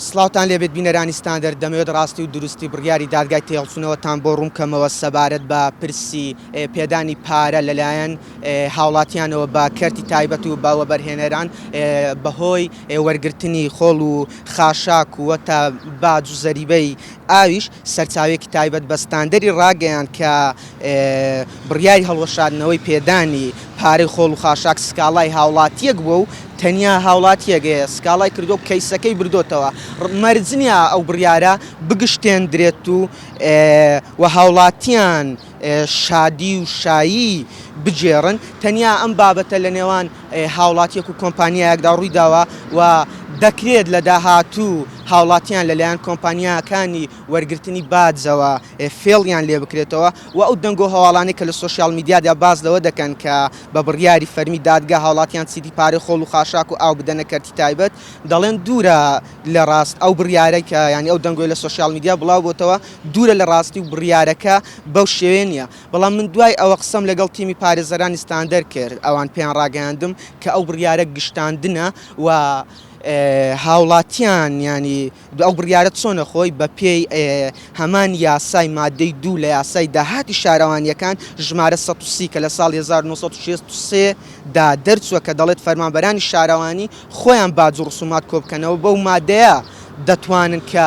سڵاوتان لێبێت بینەرانی ستاندەر، دەمەوێت ڕاستی و دروستی بڕیاری دادگای تێهەڵچوونەوەتان بۆ ڕوونکەمەوە سەبارەت بە پرسی پێدانی پارە لەلایەن هاوڵاتیانەوە بە کەرتی تایبەت و بە وەبەرهێنەران بەهۆی وەرگرتنی خۆڵ و خاشاک و باج و زەریبەی ئاویش سەرچاوەیەکی تایبەت بە ستاندەری ڕاگەیاند کە بڕیاری هەڵوەشاندنەوەی پێدانی پارەی خۆڵ و خاشاک سکاڵای هاوڵاتییەک بووە و تەنیا هاوڵاتییەک سکاڵای کردووە و کەیسەکەی بردۆتەوە مەرج نییە ئەو بڕیارە بگشتێندرێت و هاوڵاتییان شادی و شایی بگێڕن، تەنیا ئەم بابەتە لە نێوان هاوڵاتیەک و کۆمپانیایەکدا ڕوویداوە و دەکرێت لە داهاتوو هاوڵاتیان لەلایەن کۆمپانیاکانی وەرگرتنی باجەوە فێڵیان لێبکرێتەوە و ئەو دەنگ و هەواڵانەی کە لە سۆشیال میدیادا باس لەوە دەکەن کە بە بڕیاری فەرمی دادگا هاوڵاتیان چیدی پارەی خۆڵ و خاشاک و ئاو بدەنە کەرتی تایبەت دەڵێن دوورە لە ڕاست ئەو بڕیارەی کە یانی ئەو دەنگۆی لە سۆشیال میدیا بڵاوبۆتەوە دوورە لە ڕاستی و بڕیارەکە بەو شێوەیە نییە، بەڵام من دوای ئەوە قسەم لەگەڵ تیمی پارێزەرانی ستاندەر کرد، ئەوان پێیان ڕاگەیاندم کە ئەو بڕیارە گشتاندنە و هاوڵاتیان یانی ئەو بڕیارە چۆنە خۆی بە پێی هەمان یاسای مادەی دوو لە یاسای داهاتی شارەوانییەکان ژمارە سەد و سی کە لە ساڵی هەزار و نۆ سەد و شەست و سێ دا دەرچووە کە دەڵێت فەرمانبەرانی شارەوانی خۆیان باج و ڕسومات کۆبکەنەوە بەو مادەیە دەتوانن کە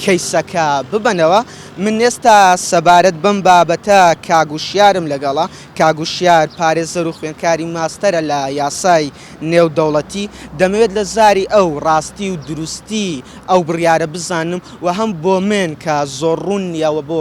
کەیسەکە ببەنەوە من ئێستا سەبارەت بەم بابەتە کاک وشیارم لەگەڵە کاک وشیار پارێزەر و خوێندکاری ماستەرە لە یاسای نێودەوڵەتی دەمەوێت لە زاری ئەو ڕاستی و دروستی ئەو بڕیارە بزانم و هەم بۆ من کە زۆر ڕوون نیە وە بۆ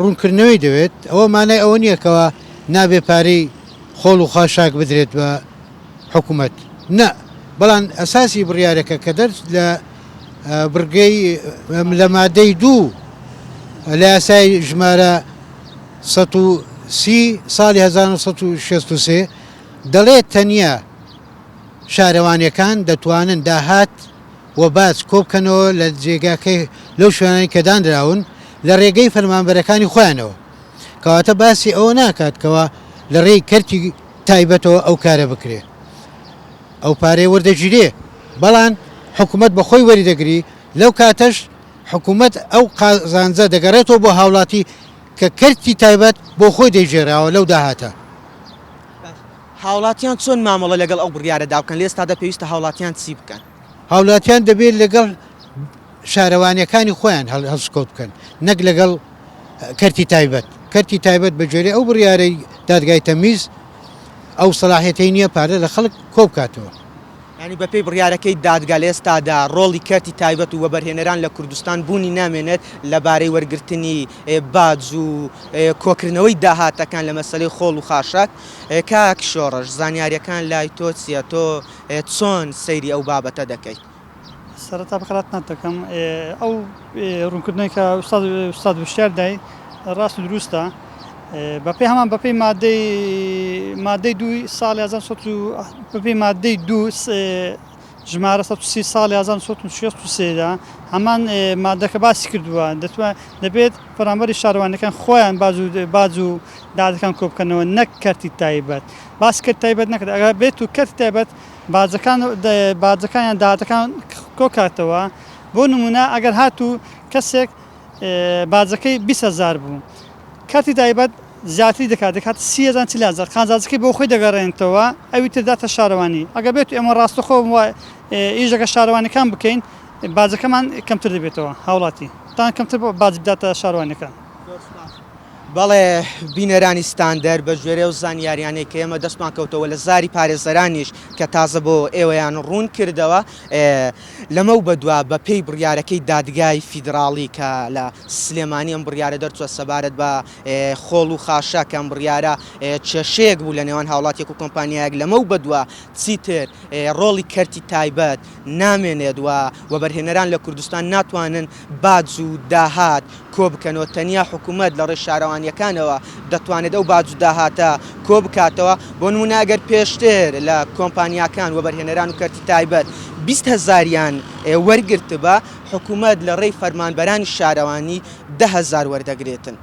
ڕوونکردنەوەی دەوێت، ئەوە مانای ئەوە نییە کەوا نابێت پارەی خۆڵ و خاشاک بدرێت بە حکومەت نا، بەڵام ئەساسی بڕیارەکە کە دەرچ لە بڕگەی لە مادەی دوو لە یاسای ژمارە سەد و سی ساڵی هەزار و نۆ سەد و شەست و سێ دەڵێت تەنیا شارەوانییەکان دەتوانن داهات و باج کۆبکەنەوە لە جێگاکەی لەو شوێنانەی کە دانراون لە رێگەی فەرمانبەرەکانی خۆیانەوە کەواتە باسی ئەوە ناکات کەوا لە رێی کەرتی تایبەتەوە ئەو کارە بکرێ ئەو پارەی وەردەگیرێ بەڵان حکومەت بە خۆی وەری دەگری لەو کاتەش حکومەت ئەو قازانجە دەگەڕێتەوە بۆ هاوڵاتی کە کەرتی تایبەت بۆ خۆی دەیگێراوە لەو داهاتە. هاوڵاتیان چۆن مامەڵە لەگەڵ ئەو بڕیارەدا بکەن لە ئێستادا پێویستە هاوڵاتیان چی بکەن؟ هاوڵاتیان دەبێت لەگەڵ شارەوانیەکانی خۆیان هەڵسوکەوت بکەن نەک لەگەڵ کەرتی تایبەت کەرتی تایبەت بە جۆری ئەو بڕیارەی دادگای تەمیز ئەو سەلاحەتی نییە پارە لە خەڵک کۆبکاتەوە ینی بەپی بڕارەکەی دادگا لە ئێستادا ڕۆڵی کەرتی تایبەت و وەبەرهێنەران لە کوردستان بوونی نامێنێت لەبارەی وەرگرتنی باج و کۆکردنەوەی داهاتەکان لە مەسلەی خۆڵ و خاشاک کاک شۆڕش زانیاریەکان لای تۆ چیە تۆ چۆن سەیری ئەو بابەتە دەکەیت؟ سەرەتا بە خەرات نەت دەکەم ئەو ڕونکردنەوەی کە ئوستاد ئوستاد وشیار دای ڕاست و دروستە بە پێی هەمان بە پێی مادەی مادەی دووی ساڵی هەزار سەد و بە پێی مادەی دوو ژمارە سەد و سی ساڵی هەزار سەد و شێست و سێدا هەمان مادەکە باسی کردووە دەتوان دەبێت پەرامبەری شارەوانەکان خۆیان باز و باز و دادەکان کۆ بکەنەوە نەک کەرتی تایبەت باسی کەرتی تایبەت نەکرد، ئەگەر بێت و کەرتی تایبەت باجەکان باجەکان یان داهاتەکان کۆکاتەوە، بۆ نموونە ئەگەر هاتوو کەسێک باجەکەی بیست هەزار بوو، کەرتی تایبەت زیاتری دەکات دەکاتە سی هەزار یان چل هەزار، قازانجەکەی بۆ خۆی دەگەڕێنێتەوە، ئەوی تر دەداتە شارەوانی، ئەگەر بێت و ئێمە ڕاستەخۆ ئیش لەگەڵ شارەوانییەکان بکەین، باجەکەمان کەمتر دەبێتەوە، هاوڵاتی تان کەمتر باج بداتە شارەوانییەکان. بەڵێ بینەرانی ستاندەر بە گوێرەی ئەو زانیاریانەی کە ئێمە دەستمان کەوتەوە لە زاری پارێزەرانیش کە تازە بۆ ئێوەیان ڕوون کردەوە لەمەو بەدوا بە پێی بڕیارەکەی دادگای فیدراڵی کە لە سلێمانی ئەم بڕیارە دەرچووە سەبارەت بە خۆڵ و خاشە کە ئەم بڕیارە کێشەیەک بوو لە نێوان هاوڵاتیەک و کۆمپانیایەک لەمەو بەدوا چیتر ڕۆڵی کەرتی تایبەت نامێنێت و وەبەرهێنەران لە کوردستان ناتوانن باج و داهات کۆبکەنەوە، تەنیا حکومەت لە ڕێی شارەوانییەکانەوە دەتوانێت ئەو باج و داهاتە کۆبکاتەوە، بۆ نموونە ئەگەر پێشتر لە کۆمپانیاکان وەبەرهێنەران و کەرتی تایبەت بیست هەزاریان وەرگرتبا، حکومەت لە ڕێی فەرمانبەرانی شارەوانی دە هەزار وەردەگرێتن.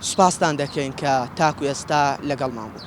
سوپاستان دەکەین کە تاکو ئێستا لەگەڵمان بوون.